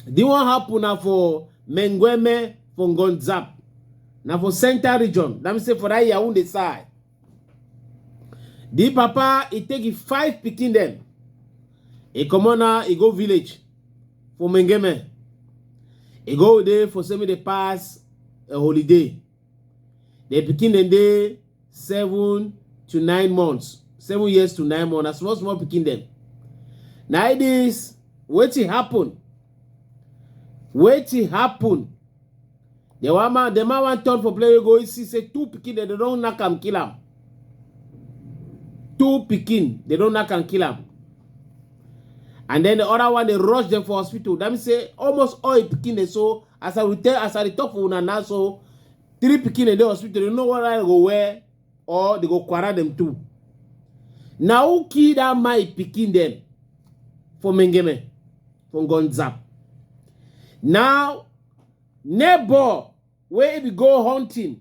The one happen na for Mengueme for Ngonzap. Na for central region. Let me say for that Yaoundé side. The papa, he take it five picking them. He come on now, he go village for Mengeme. He go there for semi the pass a holiday. dem pikin dem dey seven to nine months seven years to nine months na small small pikin dem na it is wetin happen wetin happen the one man the man wan turn for play wey go see say two pikin dem dey don knack am kill am two pikin dey don knack am kill am and then the other one dey rush dem for hospital that mean say almost all him pikin dem so as i will tell as i dey talk for una now so three pikin dey dey hospital you know what i go wear or they go quarrel them too na who kill that my pikin dem for mengeme for gonzap now neighbor wey be go hunting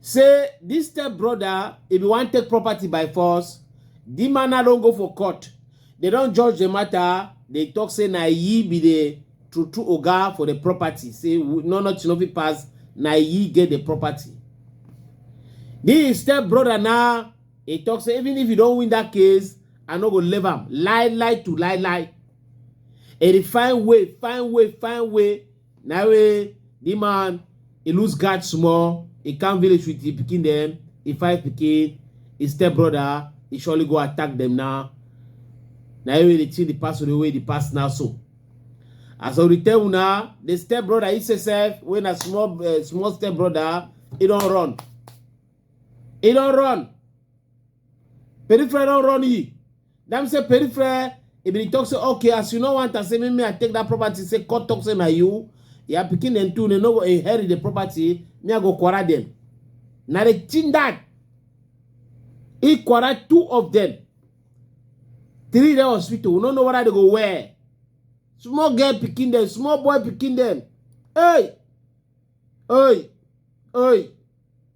say this step brother if you wan take property by force the man na don go for court they don judge the matter they talk say na ye be the true true oga for the property say we- no nothing no fit pass na ye get the property the step brother na he talk say even if you don win that case i no go leave am lie lie to lie lie he dey find way find way find way na wey the man e lose guard small e come village with the pikin dem e fight pikin e step brother e surely go attack dem now na wey dey think the past the way the past now so as i dey tell una the step brother he say sef wey na small uh, small step brother he don run he don run Peripheral don run ye. Them say peripheral, if they talk say, okay, as you know want to say, me, me, I take that property, say, court talk say, na you. Yeah, picking them too, they no go inherit the property, me, I go quarrel them. Now they chin that. He quarrel two of them. Three the hospital, we don't know whether they go where. Small girl picking them, small boy picking them. Hey! Hey! Hey!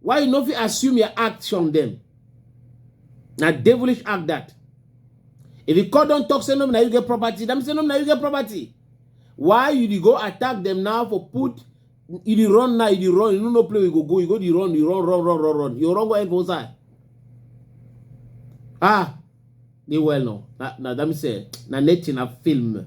Why you no fit assume your act from them? Na devilish act that. If the court don't talk, say no, now you get property. Them say no, now you get property. Why you dey go attack them now for put you dey run now, you dey run, you no know play we go go, you go dey run, you run, run, run, run, run. You run go end for inside. Ah, they well no. Now, now that me say, now nothing a film.